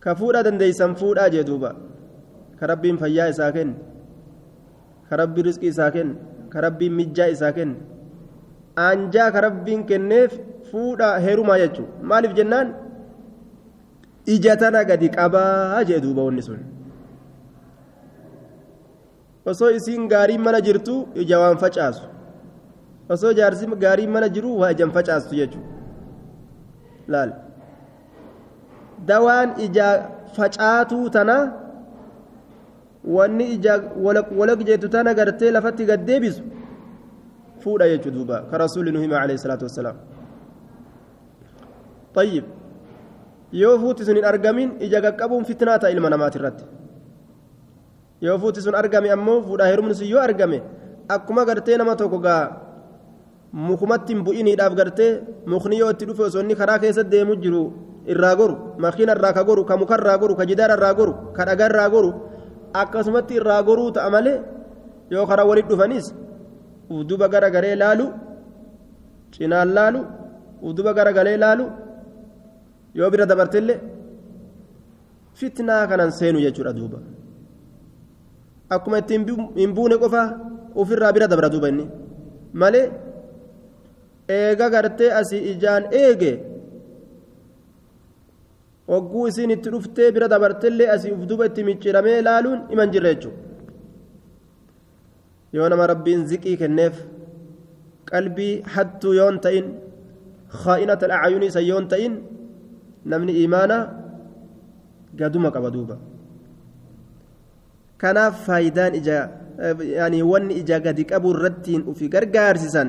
ka fuudhaa dandeeysan fuudhaa jee duuba ka rabbiin fayyaa isaa kenne ka rabbiin risqii isaa kenne ka rabbiin mijjaa isaa kenne aanjaa ka rabbiin kenneef fuudhaa heerumaa jechuu maaliif jennaan ija tana gadi qabaa jee duuba wanni sun osoo isiin gaariin mana jirtu ija waan facaasu osoo jaarsi gaariin mana jiru waa ijan facaastu jechuudha laal dawaan ija facaatuu tana wanni ija walaq jettu tana gartee lafatti gad deebisu fuudha jechuudha duuba ka rasuulli nu hima alayhi salaatu wassalaam طيب yoo fuuti sun hin argamin ija qaqqabuun fitnaa ta'a ilma namaati irratti yoo fuuti sun argame ammoo fuudhaa heerumni sun yoo argame akkuma gartee nama tokko gaa mukumatti hin bu'iniidhaaf gartee mukni yoo itti dhufe osoo inni karaa keessa deemu jiru irraa goru makiina irraa ka goru ka muka irraa goru ka jidaara irraa goru ka dhagaa irraa goru akkasumatti irraa goruu ta'a malee yoo karaa walitti dhufanis uduba gara garee laalu cinaan laalu uduba gara galee laalu yoo bira dabartillee fitnaa kanan seenu jechuudha duuba akkuma itti hin buune qofa ofirraa bira dabra duuba inni malee eega gartee asii ijaan eege hogguu isiin itti dhuftee bira dabartellee asii uf duuba itti micciiramee laaluun iman jirra jechuudha yoo nama rabbiin ziqii kenneef qalbii hattuu yoon ta'in khaa'inata al'aayunii san yoon ta'in namni imaana gaduma qaba duuba kanaaf faayidaan ija yaani wanni ija gadi qabu irrattiin ufi gargaarsisan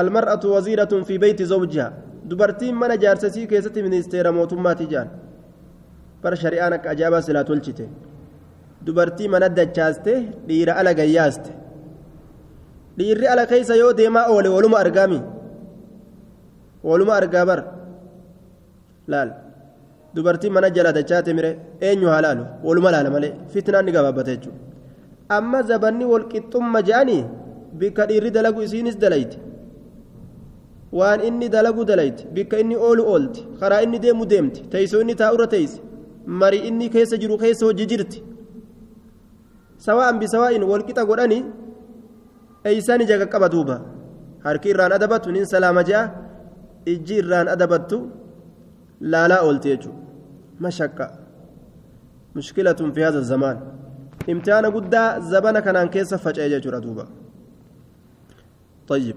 almar'atu waziiratun fi beeyti zawjiha dubartiin mana jaarsasii keessatti ministeera mootummaati jedhan bara shari'aan akka ajaa'ibaa silaa tolchite dubartii mana dachaaste dhiira ala gayyaaste dhiirri ala keessa yoo deemaa oole waluma argaami waluma argaa bara laal dubartii mana jala dachaate mire eenyu haa laalu waluma laala malee fitnaan ni gabaabbata jechuudha amma zabanni walqixxumma je'anii bikka dhiirri dalagu isiinis dalayti waan inni dalagu dalayti bikka inni oolu oolti karaa inni deemu deemti teessoo inni taa'urra teessi marii inni keessa jiru keessa hojii jirti sawa'an bisawaa'in walqixa godhanii eeysaan ija qaqqaba duuba harki irraan adabatu nin salaama je'a ijji irraan adabattu laalaa oolti jechuudha mashaqqa mushkilatun fi haza zamaan imtihaana guddaa zabana kanaan keessa faca'e jechuudha duuba طيب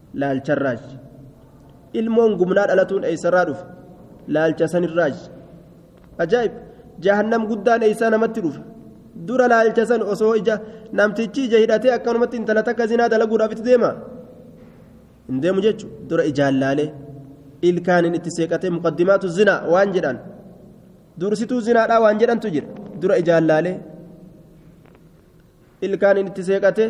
laalcharraaj ilmoon gumnaa dhalatuun eessarraa dhufe laalcha sanirraaj ajaa'ib jahannam guddaan eessaa namatti dhufa dura laalcha san osoo ija namtichi ija hidhatee akkanumatti intala takka zinaa dalaguudhaaf itti deema hin deemu jechuudha dura ijaan laalee ilkaaniin itti seeqatee muqaddimaatu zinaa waan jedhan dursituu zinaadhaa waan jedhantu jira dura ijaan laalee ilkaaniin itti seeqatee.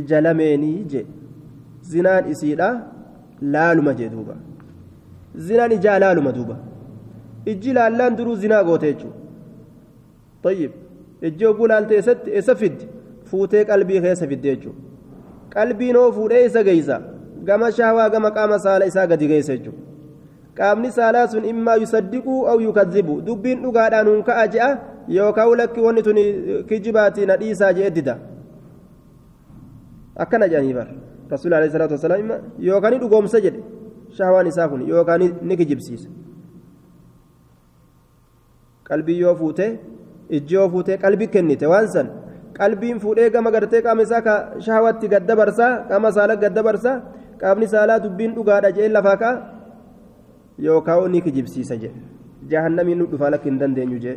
ija lameenii jee zinaan isiidha laaluma jee duuba zinaan ijaa laaluma duuba ijji laallaan duruu zinaa goote jechuudha tayyib ijji oguu laalte eessatti eessa fiddi fuutee qalbii keessa fidde jechuudha qalbiin hoo fuudhee isa geessa gama shahwaa gama qaama saala isaa gadi geessa jechuudha qaamni saalaa sun immaa yusaddiquu aw yukazzibu dubbiin dhugaadhaan hunka'a je'a yookaan lakki wanni tuni kijibaati na dhiisaa je'e dida. akkana jedhanii bar rasuulli alayhi salaatu wasalaam yookaan ni dhugoomsa jedhe shahwaan isaa kun yookaan ni kijibsiisa qalbii yoo fuute ijji yoo fuute qalbii kennite waan san qalbiin fuudhee gama gartee qaama isaa ka shahwaatti gad dabarsaa qaama saala gad dabarsaa qaamni saalaa dubbiin dhugaadha jee lafaa ka'a yookaan ni kijibsiisa jee jahannamiin nu dhufaa lakki hin dandeenyu jee.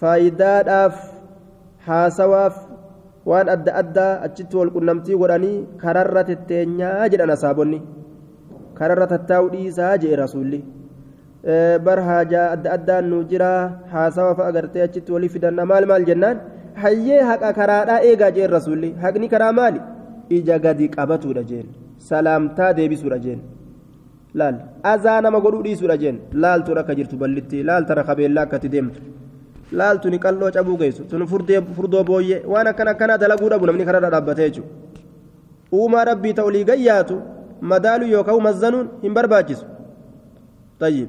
faayidaadhaaf haasawaaf waan adda addaa achitti wal qunnamtii godhanii kararra tetteenyaa jedhan asaabonni kararra tattaa'u dhiisaa jedhe rasuulli bar haajaa adda addaan nu jira haasawa fa'a gartee achitti walii fidanna maal maal jennaan hayyee haqa karaadhaa eegaa jeen rasuulli haqni karaa maali ija gadi qabatuudha jeen salaamtaa deebisuudha jeen laal azaa nama godhuu dhiisuudha jeen laaltu rakka jirtu ballitti laalta rakka beellaa akkatti deemtu laaltu ni qal'oo cabuu geessu tun furdoo booyyee waan akkana akkanaa dalaguu dhabu namni kararra dhaabbatee jechuudha uumaa rabbii ta'u olii gayyaatu madaaluu yookaan mazzanuun hin barbaachisu tayyib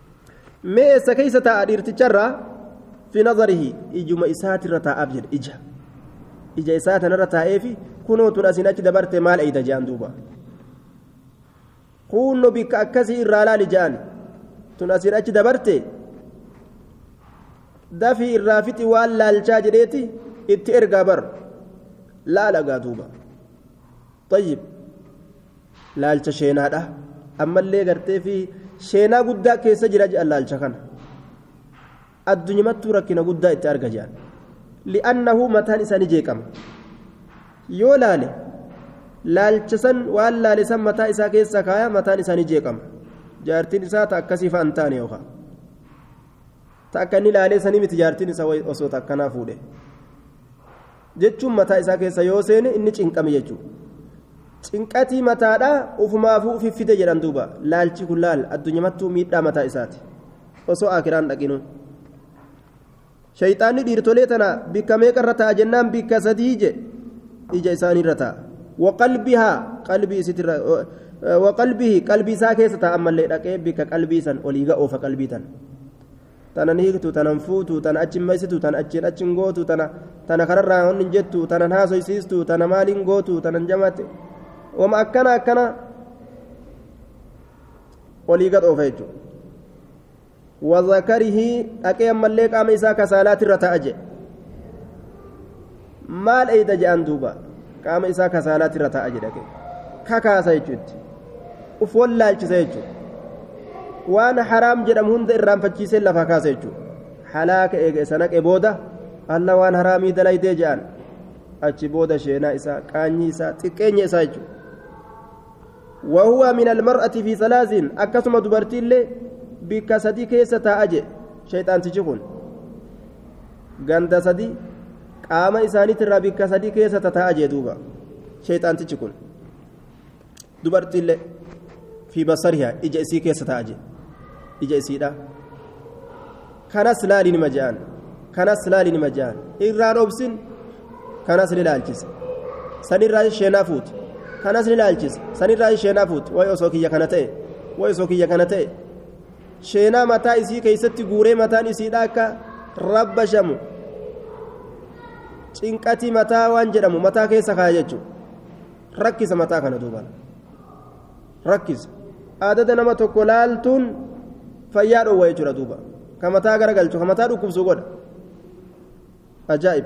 mee eessa keessa taa'a dhiirticharraa fi nazarihi ijuma isaatirra taa'aaf jedhe ija ija isaa tanarra taa'eefi kunoo tun asiin achi dabarte maal eeyda je'an duuba kunno bikka akkasii irraa laali je'an tun asiin achi dabarte dafii irraa fixi waan laalchaa jedheeti itti ergaa bar laalagaa duuba طيب laalcha sheenaadha ammallee gartee fi sheenaa guddaa keessa jira jedhan laalcha kana addunyamattuu rakkina guddaa itti arga jedhan li'annahu mataan isaa ni jeeqama yoo laale laalcha san waan laale san mataa isaa keessa kaaya mataan isaa ni jeeqama jaartiin isaa ta akkasii fa'a hin taane yookaan ta akka inni laalee sanii miti jaartiin isaa osoo ta akkanaa fuudhe jechuun mataa isaa keessa yoo seene inni cinqame jechuudha. Cinqatii mataadha ufumaafuu ufi fide jedhan duuba laalchi kun laal addunyamattuu miidhaa mataa isaati osoo akiraan dhaqinuu. Shayxaanni dhiirtolee tana bikka meeqa irra ta'a jennaan bikka sadii je ija isaanii irra ta'a. Waqalbihaa qalbii isitirra waqalbihi qalbii isaa keessa ta'a ammallee dhaqee bikka qalbii san olii ga'oofa qalbii tana. tanan hiiktu tanan fuutu tana achi hin maysitu tana achiin achi hin gootu tana tana kanarraa honni hin jettu tanan haasoysiistu tana maaliin gootu tanan jamaatti wama akkana akkana olii gad oofa jechuudha wazakarihi dhaqee ammallee qaama isaa kasaalaatirra ta'a jedhe maal eeyda je'an duuba qaama isaa kasaalaatti irra taa'a jedha kakaasa jechuutti uf wallaalchisa jechuudha waan haraam jedhamu hunda irraanfachiisee lafaa kaasa jechuudha halaaka eega isa naqe booda alla waan haraamii dalaydee je'an achi booda sheenaa isaa qaanyii isaa xiqqeenya isaa jechuudha wahuwa min almar'ati fi salaasin akkasuma dubartiillee bikka sadii keessa taa'a je shayxaantichi kun ganda sadi qaama isaaniitirraa bikka sadii keessa tataa'a jee duuba sheeyxaantichi kun dubartiillee fi basariha ija isii keessa taa'a jee ija isiidha kanas laali nima je'an kanas laali nima je'an irraan obsin kanas ni laalchisa sanirraa isheenaa fuuti kanas ni laalchisa sanirraa isheenaa fuuti wayi osoo kiyya kana ta'e wayi osoo kiyya kana ta'e sheenaa mataa isii keeysatti guuree mataan isiidha akka rabbashamu cinqatii mataa waan jedhamu mataa keessa kaaya jechuudha rakkisa mataa kana duuban rakkisa aadada nama tokko laaltuun fayyaa dhoowwa jechuudha duuba ka mataa garagalchu ka mataa dhukkubsu godha ajaa'ib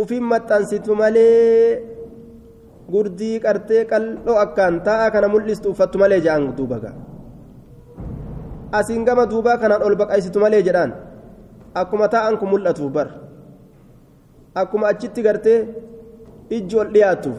ufin maxxansitu malee gurdii qartee qal'oo akkaan taa'aa kana mul'istu uffattu malee jedhaan duuba gaa asiin gama duubaa kanaan ol baqaysitu malee jedhaan akkuma taa'an kun mul'atuuf bar akkuma achitti gartee ijji ol dhiyaattuuf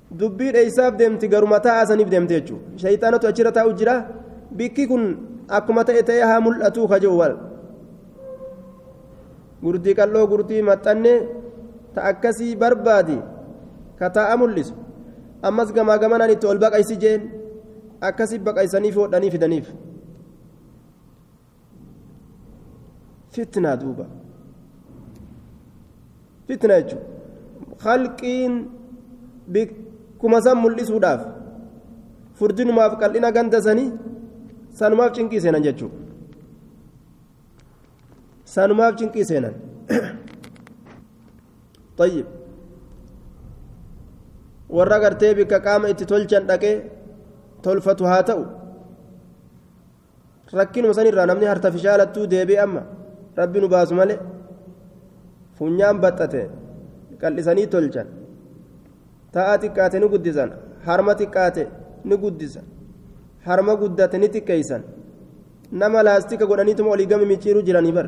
dubbii dheeysaaf deemti garuma taa'aa saniif deemte jechuudha shayxaanatu achirra taa'u jira bikki kun akkuma ta'e ta'ee haa mul'atuu ka jiru wal gurdii qal'oo gurdii maxxanne ta akkasii barbaadi ka taa'a mul'isu ammas gamaa gamanaan itti ol baqaysi jeen akkasii baqaysaniif hodhanii fidaniif. fitnaa duuba fitna jechuun halqiin bikkuma san mul'isuudhaaf furdinumaaf qal'ina ganda sanii sanumaaf cinqii seenan jechuudha sanumaaf cinqii seenan طيب warra gartee bikka qaama itti tolchan dhaqee tolfatu haa ta'u rakkinuma sanirraa namni hartafishaalattuu deebi'e amma rabbi nu baasu malee funyaan baxxate qal'isanii tolchan ta'a xiqqaate ni guddisan harma xiqqaate ni guddisan harma guddate ni xiqqeeysan nama laastika godhaniituma olii gami micciiruu jiranii bar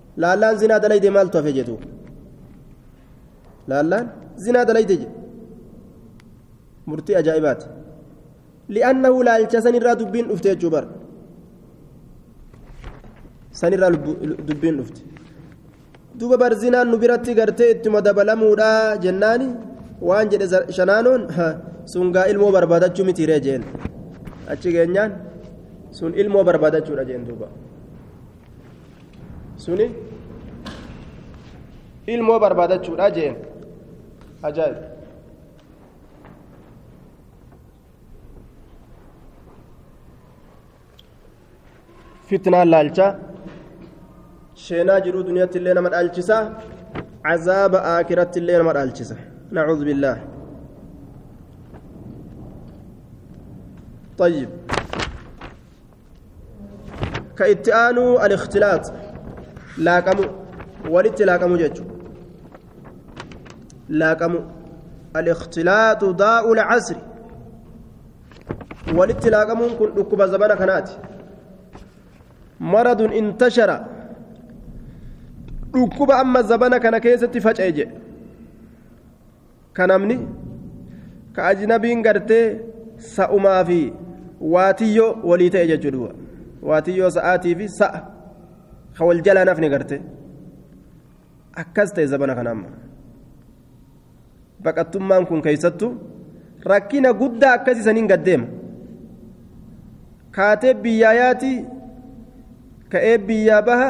laallaan zinaa dalayde maaltu hafe jedhu laallaan zinaa dalayde jedhu murtii ajaa'ibaati li'annahu laalcha sanirraa dubbiin dhufte jechuu bar sanirraa dubbiin dhufte duuba bar zinaan nu biratti gartee ittuma dabalamuudha jennaani waan jedhe shanaanoon sungaa ilmoo barbaadachuu mitiiree jeen achi geenyaan sun ilmoo barbaadachuudha jeen duuba suni ilmoo barbaadachuudha jeen ajaa'ib fitnaan laalcha sheenaa jiruu duniyaatti illee nama dhaalchisa cazaaba aakiratti illee nama dhaalchisa nacuudu billaah طيب ka itti aanuu al-ikhtilaax laaqamu walitti laaqamu jechu laaqamu al-ikhtilaaxu daa'u al-casri walitti laaqamuun kun dhukkuba zabana kanaati maradun intashara dhukkuba amma zabana kana keessatti faca'e jedhe ka namni ka ajnabiin gartee sa'umaa fi waatiyyoo walii ta'e jechuu duuba waatiyyoo sa'aatii fi sa'a ka wal jalaa nafni gartee akkas ta'e zabana kana amma baqattummaan kun keessattu rakkina guddaa akkas isaniin gaddeema kaatee biyyaa yaati ka'ee biyyaa baha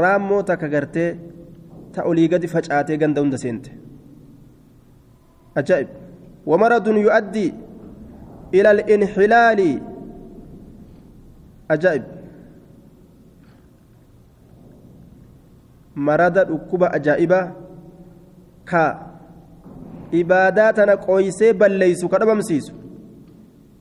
raammoo takka gartee ta olii gadi facaatee ganda hunda seente ajaa'ib wamaradun yu'addii ila al-inxilaali ajaa'ib marada dhukkuba ajaa'ibaa ka ibaadaa tana qooysee balleeysu ka dhabamsiisu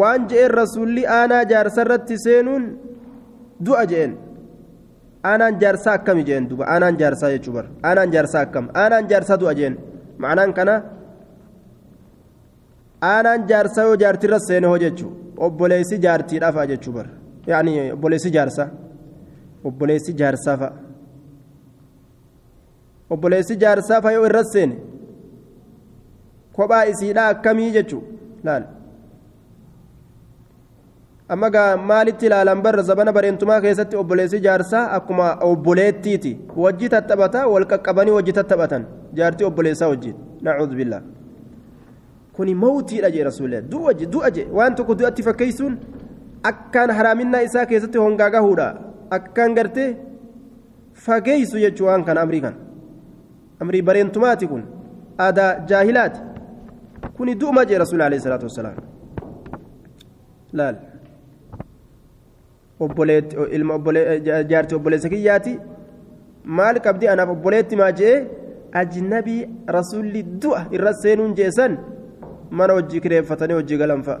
waan je'een rasuulli aanaa jaarsa irratti seenuun du'a je'een aanaan jaarsaa akkami je'een duba aanaan jaarsaa jechuu bar aanaan jaarsaa akkam aanaan jaarsaa du'a je'een ma'anaan kana aanaan jaarsaa yoo jaartirra seene hoo jechuu obboleessi jaartiidhaa fa'a jechuu bar yaani obboleessi jaarsaa obboleessi jaarsaa fa'a. obboleessi jaarsaa fayoo irra seene kophaa isiidhaa akkamii jechuu laal amma gaa maalitti ilaalan barra zabana bareentumaa keessatti obboleessi jaarsaa akkuma obboleettiiti wajji tattaphata wal qaqqabanii wajji tattaphatan jaartii obboleessaa wajjin nacuudhu billaa kuni mawtiidha jee rasuulee du'a je du'a je waan tokko du'atti fakkeessuun akkaan haraaminaa isaa keessatti hongaa gahuudha akkaan gartee fageessu jechuu waan kana amrii kana amrii bareentumaati kun aadaa jaahilaati kuni du'uma jee rasuul alayhi salaatu wassalaam laal obboleetti ilma obbolee jaarti obboleessa kiyyaati maal qabdi anaaf obboleetti maa jee ajnabii rasuulli du'a irra seenuun jeesan mana hojii kireeffatanii hojii galan fa'a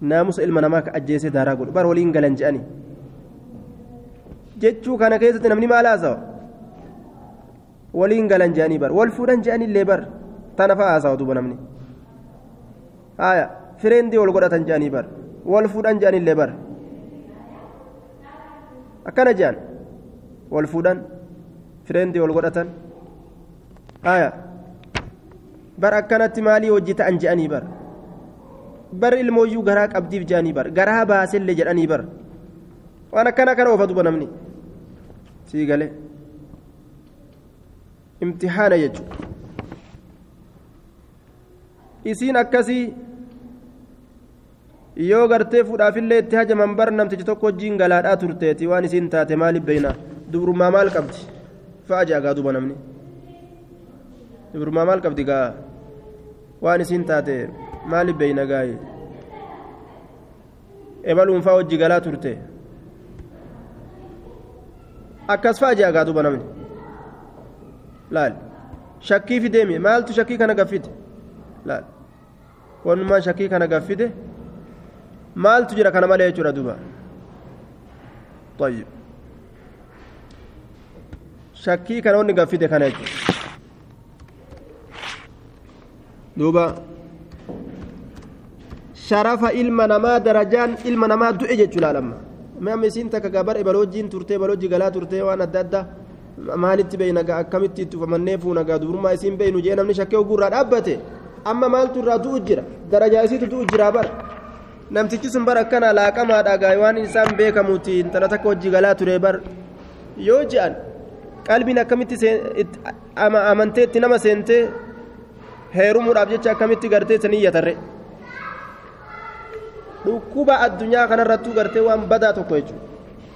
naamusa ilma namaa ka ajjeesee daaraa godhu bar waliin galan je'ani jechuu kana keessatti namni maal haasawa waliin galan je'anii bar wal fuudhan je'anii illee bar tana fa'a haasawa duuba namni haaya fireendii wal godhatan je'anii bar wal fuudhan je'anii illee bar akkana je'an wal fuudhan fireendii wal godhatan aya bar akkanatti maalii hojii ta'an je'anii bar bar ilmooyyuu garaa qabdiif je'anii bar garaa baasellee jedhanii bar waan akkana kana ofa duba namni sii galee imtixaana jechuun isiin akkasii yoo gartee fuudhaafillee itti hajaman bar namtichi tokko wajjiin galaadhaa turteeti waan isiin taate maaliif beeyna dubrummaa maal qabdi fa'a ja'a gaa duba namni dubrummaa maal qabdi gaa waan isiin taate maaliif beeyna gaayi ebaluun fa'a wajji galaa turte akkas fa'a ja'a gaa duba namni laal shakkii fideemi maaltu shakkii kana gaffite laal wanumaa shakii kana gaffide maaltu jira kana malee jechuudha duba طيب shakkii kana wanni gaffide kana jechuudha duuba sharafa ilma namaa darajaan ilma namaa du'e jechuu laalamma mee amma isiin takka gabar ebaloojiin turtee ebalooji galaa turtee waan adda addaa maalitti beeyna gaa akkamitti itti ufamannee fuuna gaa dubrummaa isiin beeynu jee namni shakkee oguu irraa dhaabbate amma maaltu irraa du'u jira darajaa isiitu du'u jira bara namtichi sun bara akkana laaqamaadha gaa waan isaan beekamuuti intala takka hojii galaa ture bar yoo je'an qalbiin akkamitti amantee itti nama seentee heerumuudhaaf jecha akkamitti gartee sanii yatarre dhukkuba addunyaa kanarrattuu gartee waan badaa tokko jechuudha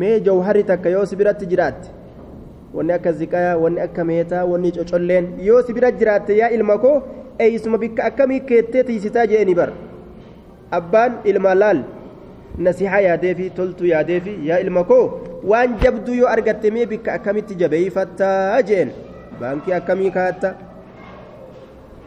mee jawharri takka yoo si biratti jiraatte wanni akka ziqayaa wanni akka meetaa wanni cocolleen yoo si bira jiraatte yaa ilma koo eeysuma bikka akkamii keettee tiisitaa jeeni bar abbaan ilma laal nasihaa yaadeefi toltuu yaadeefi yaa ilma koo waan jabduu yoo argatte mee bikka akkamitti jabeeyfattaa jeen baankii akkamii kaatta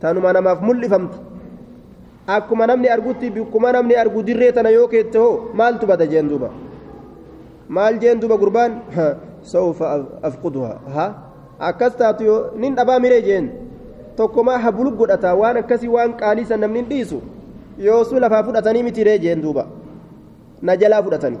tanuma namaaf mul'ifamtu akkuma namni argutti bikkuma namni argu dirree tana yoo keette hoo maaltu bada jeen duuba maal jeen duuba gurbaan sawfa afquduha ha akkas taatu yoo nin dhabaa miree jeen tokkomaa habulu godhata waan akkasii waan qaalii san namni hin dhiisu yoosuu lafaa fudhatanii mitiree jeen duuba na jalaa fudhatanii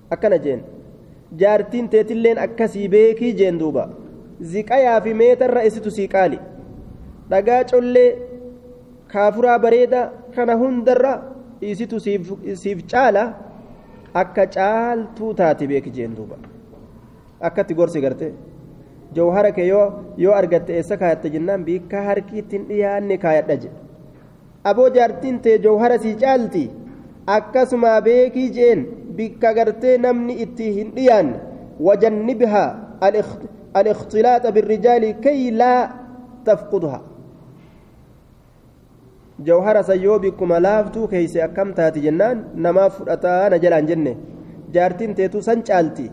akkana jeen jaartiin teetilleen akkasii beekii jeen duuba ziqayaa fi meetarra isitu sii qaali dhagaa collee kaafuraa bareeda kana hundarra isitu siif caala akka caaltuu taate beeki jeen duuba akkatti gorsi garte jawhara kee yoo yoo argatte eessa kaayatte jennaan biikka harkiitti hin dhiyaanne kaayadha jedhe Aboo jaartiin tee jawhara sii caalti akkasumaa beekii jeen bikka gartee namni itti hin dhiyaanne wajannibha al-ikhtilaaxa birrijaali kay laa tafqudha jawhara san yoo bikkuma laaftuu keeyse akkam taati jennaan namaaf fudhataa na jalaan jenne jaartiin teetu san caalti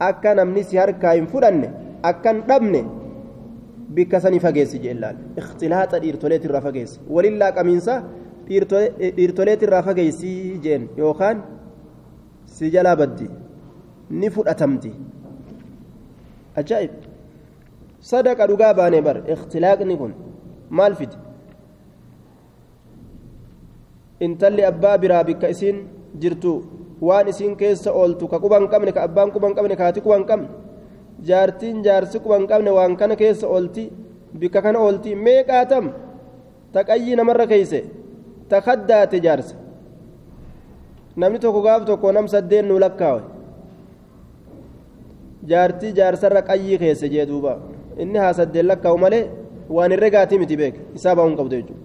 akka namni si harkaa hin fudhanne akkan dhabne bikka sanii fageessi jeellaan ikhtilaaxa dhiirtoleet irraa fageessi walillaa qamiinsa dhiirtoleet irraa fageessi jeen yookaan si jalaa baddi ni fudhatamti ajaa'ib sadaqa dhugaa baanee bar ikhtilaaqni kun maal fide intalli abbaa biraa bikka isiin jirtu waan isiin keessa ooltu ka quban qabne ka abbaan quban qabne ka haati quban qabne jaartiin jaarsi quban qabne waan kana keessa oolti bikka kana oolti meeqaatam ta qayyii namarra keeyse ta kaddaate jaarsa namni tokko gaaf tokko nam saddeen nuu lakkaawe jaartii jaarsarra qayyii keessa jee duuba inni haa saddeen lakkaa'u malee waan hin regaatii miti beek isaa baa'uu hin qabdu jechuudha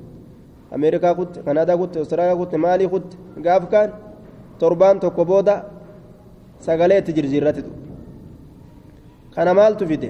ameerikaa kutte kanaadaa kutte awustiraaliyaa kutte maalii kutte gaaf kaan torbaan tokko booda sagalee itti jirjiirratti kana maaltu fide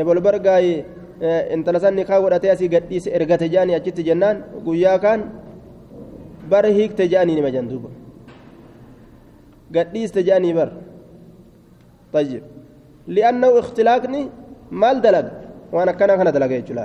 ebol bargaayi intala san nikaa godhatee asii gadhiise ergate jedhanii achitti jennaan guyyaa kaan bar hiikte jedhanii nima jan duuba gadhiiste jedhanii bar tayyib li'annahu ikhtilaaqni maal dalaga waan akkanaa kana dalaga jechuudha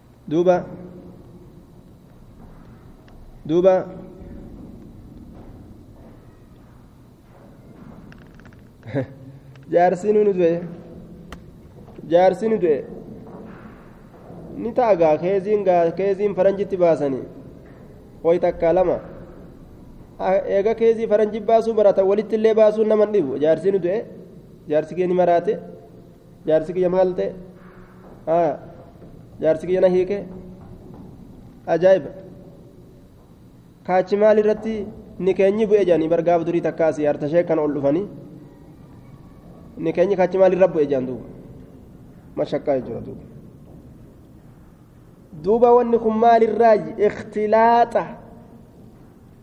duuba duuba jaarsiin ni du'e jaarsiin ni du'e ni ta'a gaa keeziin gaa keeziin faranjitti baasanii ho'i takkaa lama eega keezii faranjii baasuu baratan walitti illee baasuun nama dhibu jaarsiin ni du'e jaarsi kee ni maraate. jaarsi kiyya maal ta'e jaarsi kiyya na hiike ajaa'iba kaachi maal irratti ni keenyi bu'e jedhanii bargaaf durii takkaas yaarta ishee kan ol dhufanii ni keenyi kaachi maal irra bu'e jedhan duuba mashakkaa jechuudha duuba duuba wanni kun maal irraa ikhtilaaxa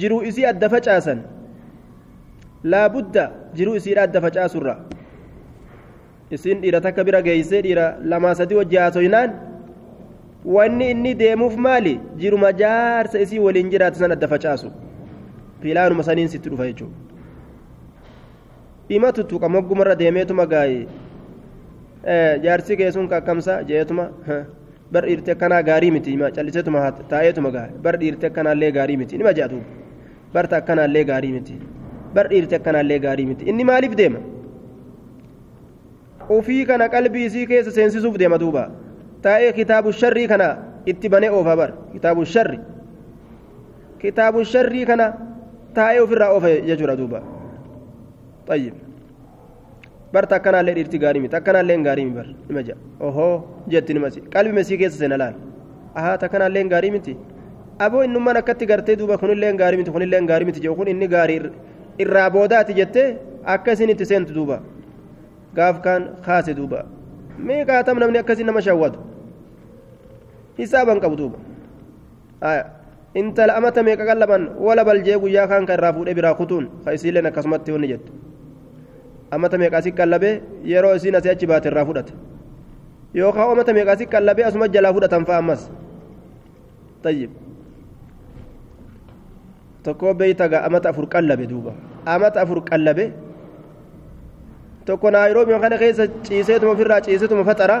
jiruu isii adda facaasan laabudda jiruu isiidha adda facaasurra isiin dhiira takka bira geeysee dhiira lamaa sadii wajji haasoynaan wanni inni deemuuf maali jiruma jaarsa isii waliin jiraatu san adda facaasu pilaanuma saniin sitti dhufa jechuudha ima tuttuqa moggumarra deemeetuma gaa'ee jaarsi kee sun kakkamsa jeetuma bar dhiirti akkanaa gaarii miti ima calliseetuma taa'eetuma gaa bar dhiirti akkanaallee gaarii miti nima jedhatu barta akkanaallee gaarii miti bar dhiirti akkanaallee gaarii miti inni maaliif deema ofii kana qalbii isii keessa seensisuuf deema duuba taa'ee kitaabu sharrii kana itti banee oofa bar kitaabu sharri kitaabu sharrii kana taa'ee ofirraa oofa jechuudha duuba. طيب bar takkanaallee dhiirti gaarii miti takkanaallee gaarii miti bar nima jedha ohoo jetti nimasi qalbi mesii keessa seena laal ahaa takkanaallee gaarii miti aboo innummaan akkatti gartee duuba kunillee gaarii miti kunillee gaarii miti jedhu kun inni gaarii irraa boodaati jettee akka isin itti seentu duuba gaaf kaan kaase duuba meeqaatam namni akkasii nama shawwatu hisaaban qabu duuba. intala amata meeqa qallaban wala baljee guyyaa kaan kan irraa fuudhee biraa kutuun ka isiilleen akkasumatti wanni jettu amata meeqa asi qallabee yeroo isiin asii achi baate irraa fudhata yookaan amata meeqa asi qallabee asuma jalaa fudhatan fa'a ammas tayyib tokkoo beeyta gaa amata afur qallabe duuba amata afur qallabe tokko naayiroobii kana keessa ciiseetuma ofirraa ciiseetuma faxaraa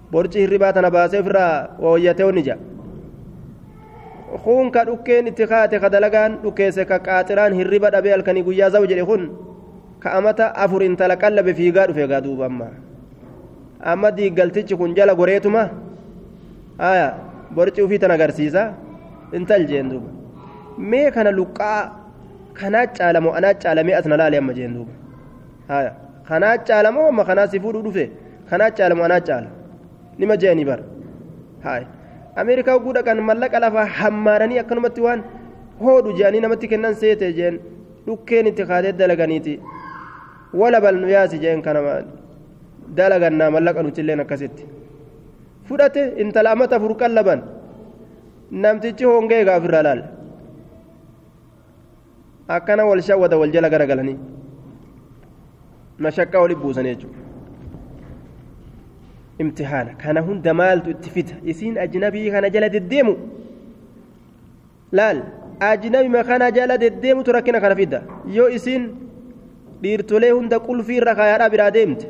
borci hirribaa tana baasee ofirraa wooyyatee onni ja'a kun ka dhukkeen itti kaate ka dalagaan dhukkeesse ka qaaxiraan hirriba dhabee halkanii guyyaa za'u jedhe kun ka amata afur intala qallabe fiigaa dhufe egaa duuba amma amma diiggaltichi kun jala goreetuma aya borci ufii tan agarsiisa intal jeen duuba mee kana luqqaa kanaa caalamoo anaa caalamee as na laale amma jeen duuba haya kanaa caala moo amma kanaa si fuudhuu dhufe kanaa caala moo anaa caala nima je'anii bar haya ameerikaa oguu dhaqan mallaqa lafaa hammaaranii akkanumatti waan hoodhu je'anii namatti kennan seete jeen dhukkeen itti kaatee dalaganiiti wala bal nu yaasi jeen kana dalagannaa mallaqa nutilleen akkasitti fudhate intala amata afur qallaban namtichi hongee egaa ofirraa laala akkana wal shawwada wal jala gara galanii mashaqqaa wali buusan jechuudha imtihaana kana hunda maaltu itti fida isiin ajnabii kana jala deddeemu laal ajnabima kana jala deddeemutu rakkina kana fida yoo isiin dhiirtolee hunda qulfii irra kaayaadhaa biraa deemte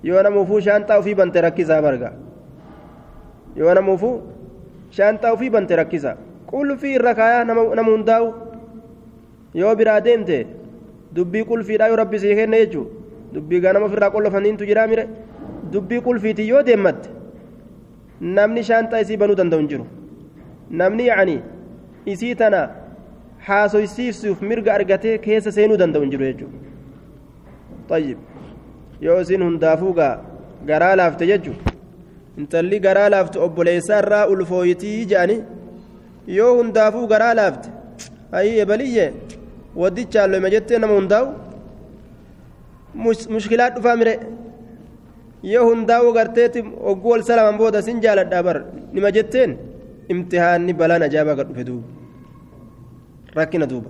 yoo namuufuu shaanxaa ofii bante rakkisaa barga yoo namuufuu shaanxaa ofii bante rakkisa qulfii irra kaayaa nama hundaa'u yoo biraa deemte dubbii qulfiidhaa yoo rabbi sii kenne jechuun dubbii ganama ofirraa qollofaniintu jiraa mire dubbii qulfiitii yoo deemmatte namni shaanxaa isii banuu danda'u hin jiru namni yaa'anii isii tana haasoysiisuuf mirga argatee keessa seenuu danda'u hin jiru jechuudha. طيب yoo isin hundaafuu gaa garaa laafte jechu intalli garaa laaftu obboleessaa irraa ulfooyitii jedhani yoo hundaafuu garaa laafte ayii ebaliyye waddichaan loyma jettee nama hundaa'u mushkilaa dhufaa mire yoo hundaa'uu garteetti ogguu ol salaman booda sin jaaladhaa bar nima jetteen imtihaanni balaan ajaa'ibaa gad dhufe duuba rakkina duuba.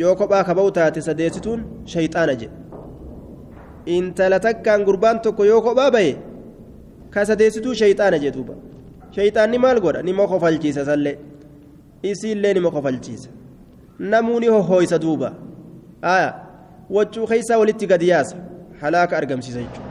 yoo kophaa ka ba'u taate sadeessituun shayxaana jedhe intala takkaan gurbaan tokko yoo kophaa ba'e ka sadeessituu shayxaana jedhe duuba shayxaanni maal godha nima kofalchiisa sallee isiillee nima kofalchiisa namuu ni hohooysa duuba aya waccuu keessaa walitti gadi yaasa halaaka argamsiisa jechuudha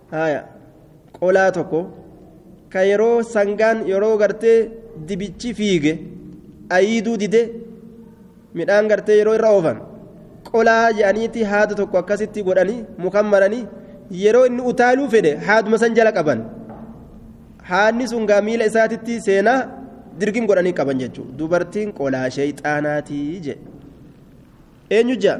haya qolaa tokko ka yeroo sangaan yeroo gartee dibichi fiige ayiiduu dide midhaan gartee yeroo irra oofan qolaa jedhaniiti haada tokko akkasitti godhanii mukan maranii yeroo inni utaaluu fedhe haaduma san jala qaban haadni sun gaa miila isaatitti seenaa dirgim godhanii qaban jechuudha dubartiin qolaa sheeyxaanaatii jedhe eenyu ja'a.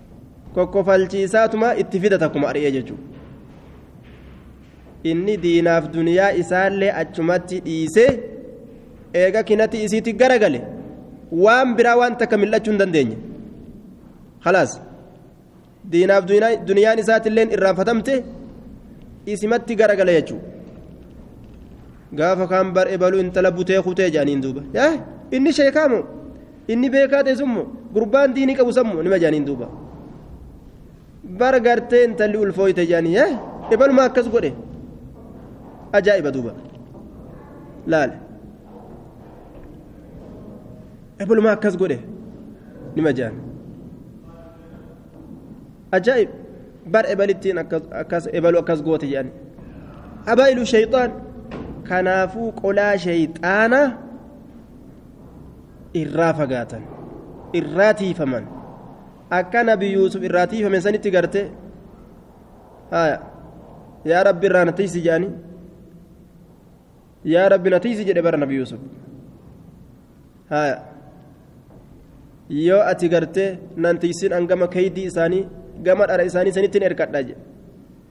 kokkofalchiisaatuma itti fida takkuma ari'ee jechuudha inni diinaaf duniyaa isaallee achumatti dhiisee eega kinatti isiitti garagale waan biraa waan takka mil'achuu hin dandeenye halaas diinaaf duniyaan isaatillee irraanfatamte isimatti garagale jechuudha gaafa kaan bar ebaluu intala butee kutee jedhaniin duuba inni sheekaamu. inni beekaa ta'e sun moo gurbaan diinii qabu san moo nima jaaniin duuba bara gartee intalli ulfooyte jaanii hee ibaluma akkas godhe ajaa'iba duuba laale ibaluma akkas godhe nima jaan ajaa'ib bar ebalittiin akkas ebalu akkas goote jaanii abaa'ilu shayxaan kanaafuu qolaa shayxaanaa irraa fagaatan irraa tiifaman akka nabi yuusuf irraa tiifame sanitti garte haya yaa rabbi irraa na tiisi jedhani yaa rabbi na tiisi jedhe bara nabi yuusuf haya yoo ati garte nan tiisin an gama keeydii isaanii gama dhara isaanii sanittiin erkadha jedhe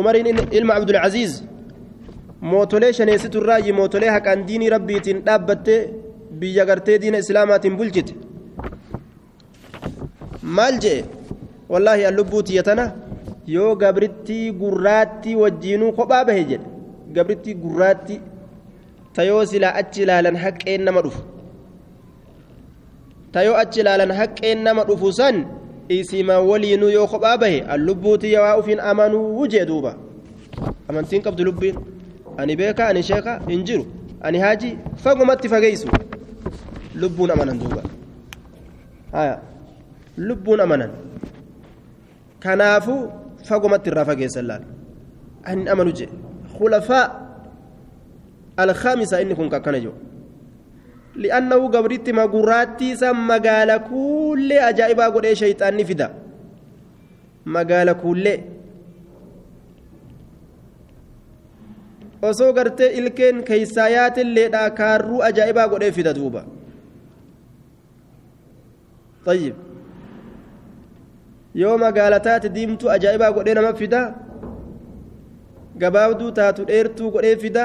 umariin ilma abdulcaziiz mootolee shaneessitu irraayyi mootolee haqaan diinii rabbiitiin dhaabbatte biyya gartee diina islaamaatiin bulchite maal jee wallaahi an lubbuu tiyya tana yoo gabrittii gurraattii wajjiinuu kophaa bahe jedhe gabrittii gurraattii ta yoo silaa achi ilaalan haqqeen nama dhufu tayoo achi ilaalan haqqeen nama dhufu san isima waliinuu yoo kophaa bahe an lubbuutii yawaa ufiin amanuu jee duuba amantiin qabdu lubbiin ani beeka ani sheeka hin jiru ani haajii fagumatti fageeysu lubbuun amanan duuba haya lubbuun amanan kanaafuu fagumatti irraa fageessan laal an hin amanu jee khulafaa alkhaamisa inni kun kakkana jiru li'annahu gabritti ma gurraattii san magaala kuullee ajaa'ibaa godhee shayxaanni fida magaala kuullee osoo gartee ilkeen keeysaa yaatilleedha kaarruu ajaa'ibaa godhee fida duuba طيب yoo magaala taate diimtuu ajaa'ibaa godhee nama fida gabaabduu taatu dheertuu godhee fida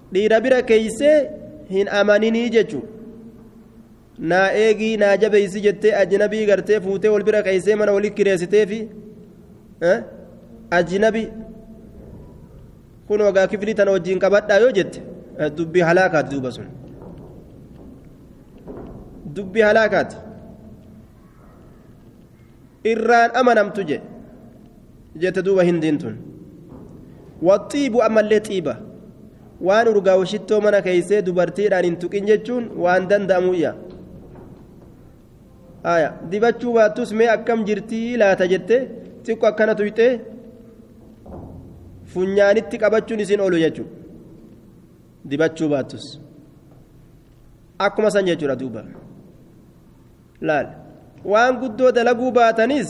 dhiira bira keeysee hin amaninii jechu naa eegii naa jabeeysi jettee ajnabii gartee fuutee wal bira keeysee mana wali kireessiteefi ajnabi kun ogaa kiflii tana wajjiin qabadhaa yoo jette dubbii halaakaati duuba sun dubbii halaakaati irraan amanamtu jedhe jette duuba hindiin tun waxiibu ammallee xiiba waan urgaawu shittoo mana keeysee dubartiidhaan hin tuqin jechuun waan danda'amuyya aya dibachuu baattus mee akkam jirtii laata jette xiqqo akkana tuyxee funyaanitti qabachuun isin oolu jechuudha dibachuu baattus akkuma san jechuudha duuba. laal waan guddoo dalaguu baatanis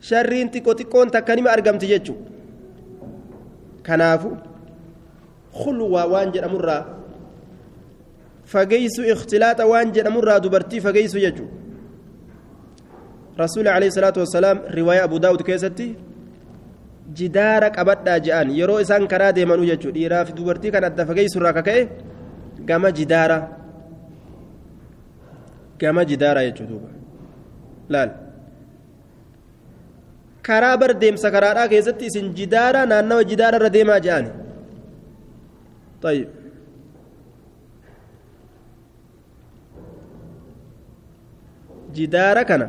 sharriin xiqqo xiqqoon takka nima argamti jechu kanaafu khulwaa waan jedhamurraa fageeysu ikhtilaaxa waan jedhamurraa dubartii fageeysu jechu rasuuli alayhi salaatu wassalaam riwaaya abu daawud keessatti jidaara qabadhaa je'an yeroo isaan karaa deemanuu jechu dhiiraa fi dubartii kan adda fageeysurraa kaka'e gama jidaara gama jidaaraa jechuu duuba laal karaa bar deemsa karaadhaa keessatti isin jidaaraa naannawa jidaara irra deemaa jedhaani طيب jidaara kana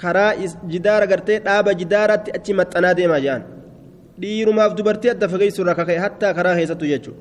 karaa jidaara gartee dhaaba jidaaraatti achi maxxanaa deemaa jedhaan dhiirumaaf dubartii adda fageessu irraa kaka'e hattaa karaa keessattu jechuudha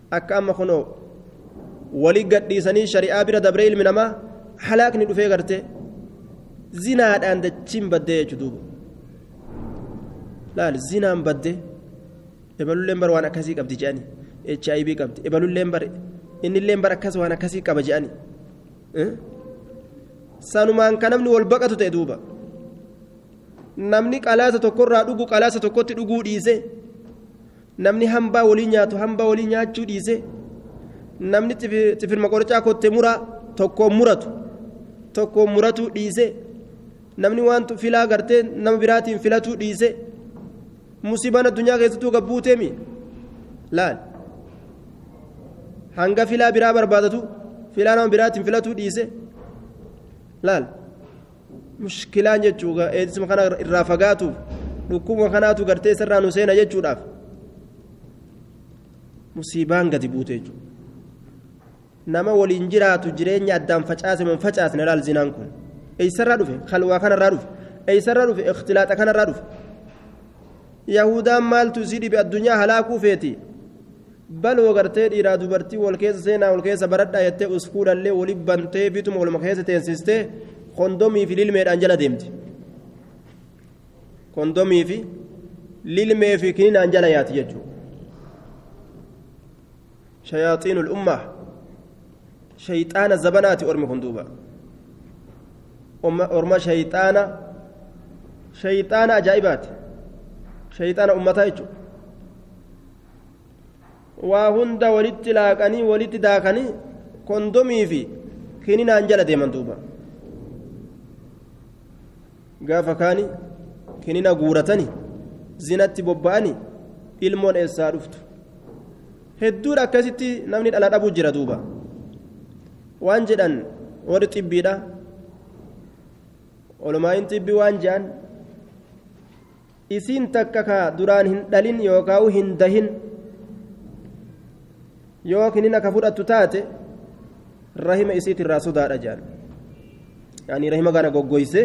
akka amma kunoo wali gadhiisanii shari'aa bira dabree ilmi namaa halaakni dhufee garte zinaadhaan dachiin baddee jechu duuba laal zinaan badde ebalulleen bar waan akkasii qabdi jedhani h i v qabdi ebalulleen bar innilleen bar akkas waan akkasii qaba jedhani sanumaan ka namni wal baqatu ta'e duuba namni qalaasa tokkorraa dhugu qalaasa tokkotti dhuguu dhiise namni hambaa walii nyaatu hambaa walii nyaachuu dhiise namni xifirma qorichaa kotte muraa tokkoon muratu tokkoon muratuu dhiise namni waan filaa gartee nama biraatiin filatuu dhiise musibaan addunyaa keessattuu gabbuuteemi laal hanga filaa biraa barbaadatu filaa nama biraatiin filatuu dhiise laal. mushkilaan jechuu eedsisma kana irraa fagaatuuf dhukkubuma kanaatu gartee isarraa nu seena jechuudhaaf musiibaan gadi buute jechuudha nama waliin jiraatu jireenya addaan facaase mun facaasne laal zinaan kun eessarraa dhufe halwaa kanarraa dhufe eessarraa dhufe ikhtilaaxa kanarraa dhufe yahudaan maaltu isii dhibe addunyaa halaakuu feeti baloo gartee dhiiraa dubartii wal keessa seenaa wal keessa baradhaa jettee uskuulallee wali bantee bituma waluma keessa teensistee kondomii fi lilmeedhaan jala deemti kondomii fi lilmee fi kininaan jala yaati jechuudha shayaaxiinul ummaa shayxaana zabanaati ormi kun duuba orma shayxaana shayxaana ajaa'ibaati shayxaana ummataa jechuudha waa hunda walitti laaqanii walitti daakanii kondomii fi kininaan jala deeman duuba gaafa kaani kinina guuratanii zinatti bobba'anii ilmoon eessaa dhuftu hedduudha akkasitti namni dhala dhabuu jira duuba waan jedhan warri xibbiidha olomaa'iin xibbii waan jedhan isiin takka ka duraan hin dhalin yookaan hin dahin yoo kinina ka fudhattu taate rahima isiitirraa sodaadha jedhan yaani rahima kana goggoyse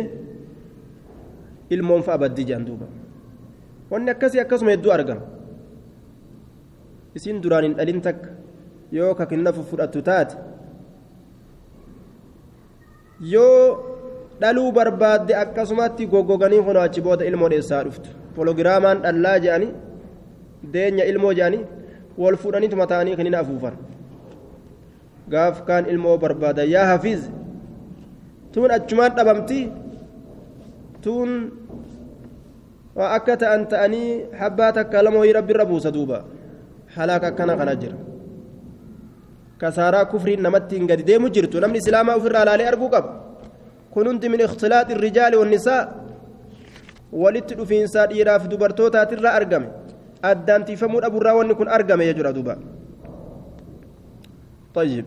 ilmoon fa'a baddi jedhan duuba wanni akkasii akkasuma hedduu argama isiin duraan hin dhalin takka yoo ka kinina fudhattu taate yoo dhaluu barbaadde akkasumatti goggoganii kunoo achi booda ilmoo dheessaa dhuftu pologiraamaan dhallaa jedhanii deenya ilmoo jedhanii wal fuudhanii tuma ta'anii kinin afuufan gaaf kaan ilmoo barbaada yaa hafiiz tuun achumaan dhabamti tuun waa akka ta'an ta'anii habbaa takka lama wayii rabbi irra buusa duuba halaaka akkana kana jira kasaaraa kufriin namattiin gadi deemu jirtu namni islaamaa ofirraa laalee arguu qaba kun hundi min ikhtilaaxi rijaali wannisaa walitti dhufiinsaa dhiiraaf dubartootaatirraa argame addaan tiifamuu dhabuurraa wanni kun argame jechuudha duuba طيب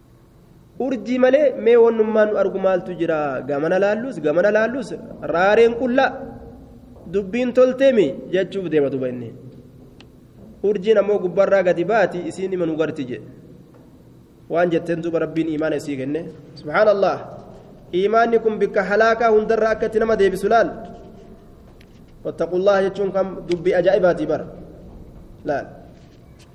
urjii malee mee wannummaan nu argu maaltu jira gamana laallus gamana laallus raareen qullaa dubbiin tolteemi jechuuf deema duba inni urjiin ammoo gubbarraa gadi baati isiin ima nu garti jedhe waan jetteen duba rabbiin imaana isii kenne subhaanallah imaanni kun bikka halaakaa hundarra akka itti nama deebisu laal wattaqullaha jechuun kam dubbii ajaa'ibaatii bara laal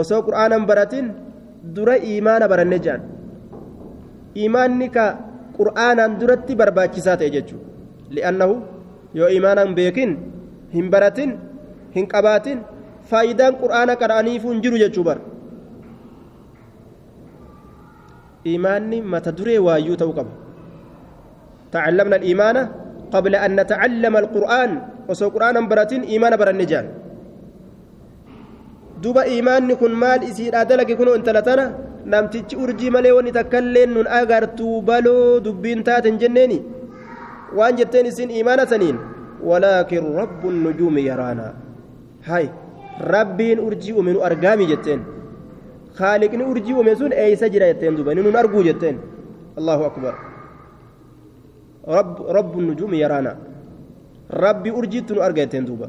osoo qur'aanan baratin dura iimaana baranne jedhan iimaanni ka qur'aanaan duratti barbaachisaa ta'e jechuudha li'annahu yoo iimaanaan beekin hin baratin hin qabaatin faayidaan qur'aana qara'aniifuu hin jiru jechuu bara iimaanni mata duree waayyuu ta'uu qaba ta'allamna iimaana qabla an nata'allama alqur'aan osoo qur'aanan baratin iimaana baranne jedhan duba iimaanni kun maal isiidhaa dalage kunoo intala tana namtichi urjii malee wanni takkallee nun agartuu baloo dubbiin taaten jenneeni waan jetteen isin iimaana saniin walaakin rabbun nujuumi yaraana hay rabbiin urjii uume nu argaami jetteen khaaliqni urjii uume sun eeysa jira jetteen duba inni nun arguu jetteen allahu akbar rabbun nujuumi yaraana rabbi urjiitti nu arga jetteen duuba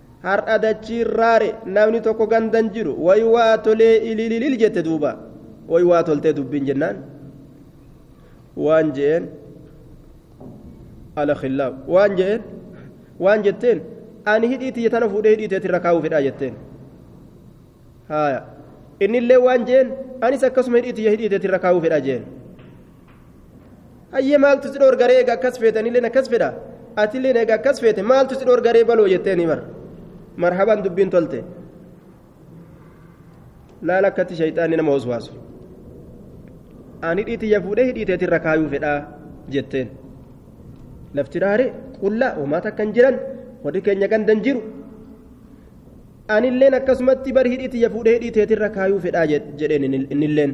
har'a dachiin raare namni tokko gandan jiru way waa tolee ilililil jette duuba way waa toltee dubbiin jennaan waan je'een ala khillaaf waan je'een waan jetteen ani hidhii tiyya tana fuudhee hidhii teetirra kaa'uu fedhaa jetteen haaya innillee waan je'een anis akkasuma hidhii tiyya hidhii teetirra kaa'uu fedhaa je'een hayyee maaltu si dhoorgaree eega akkas feetanillee akkas fedha atillee eega akkas feete maaltu si dhoorgaree baloo jetteeni bar marhaban dubbiin tolte laala akkatti shayxaanni nama waswaasu ani dhiitiyya fuudhee hidhiiteetiin rakaayuu fedhaa jetteen lafti dhaare qullaa uumaata akkan jiran warri keenya gandan jiru anilleen akkasumatti bar hidhiitiyya fuudhee hidhiiteetiin rakaayuu fedhaa jedheen innilleen.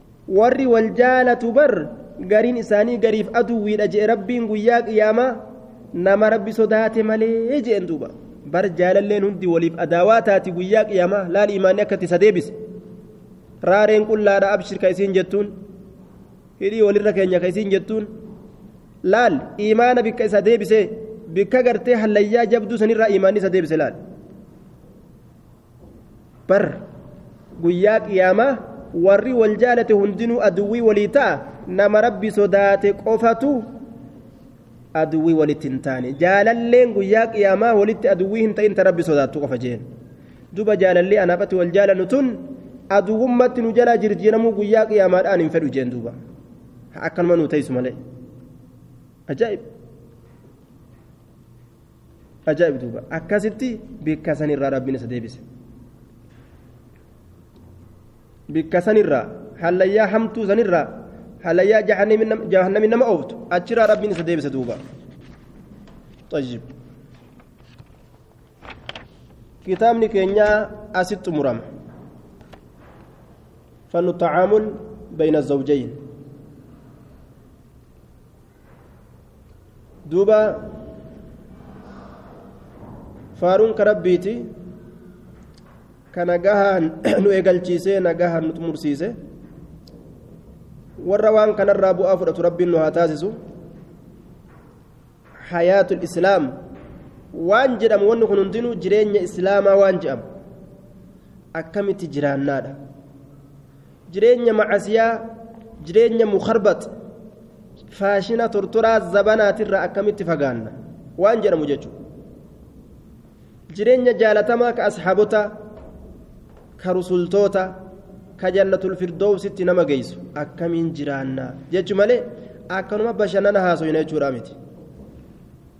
warri wal jaalatu bar gariin isaanii gariif aduwwiidha je'e rabbiin guyyaa qiyaamaa nama rabbi sodaate malee je'en duuba bar jaalalleen hundi waliif adaawaa taati guyyaa qiyaamaa laal imaanni akkatti isa deebise raareen qullaadha abshir ka isiin jettuun hidhii walirra keenya ka isiin jettuun laal imaana bikka isa deebise bikka gartee hallayyaa jabduu sanirraa imaanni isa deebise laal bar guyyaa qiyaamaa warri wal jaalate hundinuu aduwwii walii ta'a nama rabbi sodaate qofatu aduwwii walitti hin taane jaalalleen guyyaa qiyaamaa walitti aduwwii hin ta'in ta rabbi sodaattu qofa jeen duba jaalallee anaafatti wal jaalannu tun aduwwummatti nu jalaa jirjiiramuu guyyaa qiyaamaadhaan hin fedhu jeen duuba akkanuma nu teessu malee ajaa'ib ajaa'ib duuba akkasitti bikka sanirraa rabbiin isa deebise bikka sanirraa hallayyaa hamtuu sanirraa hallayyaa jahannamin nama ooftu achirraa rabbiin isa deebise duuba طيب kitaabni keenya asitti xumurama fannu tacaamul bayna zawjayn duuba faaruun ka rabbiiti ka nagahaan nu eegalchiisee nagahaan nu xumursiise warra waan kanarraa bu'aa fudhatu rabbiin nu haa taasisu hayaatul islaam waan jedhamu wanni kun hundinuu jireenya islaamaa waan jedhamu akkamitti jiraannaadha jireenya macasiyaa jireenya mukarbat faashina tortoraa zabanaatirraa akkamitti fagaanna waan jedhamu jechuudha jireenya jaalatamaa ka asxaabotaa ka rusultoota ka jannatul firdoowsitti nama geessu akkamiin jiraanna jechu malee akkanuma bashannana haasoyna jechuudha miti.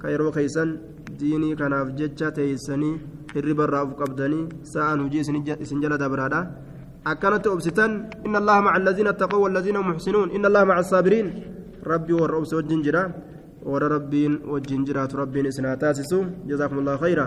ka yeroo keeysan diinii kanaaf jecha teeysanii hirriba irraa uf qabdanii sa'aan hujii isin jala dabraadha akkanatti obsitan inna allaha maca allaziina attaqaw wallaziina hum muxsinuun inna allaha maca assaabiriin rabbii warra obse wajjin jira warra rabbiin wajjin jiraatu rabbiin isin haa taasisu jazaakum allahu khayra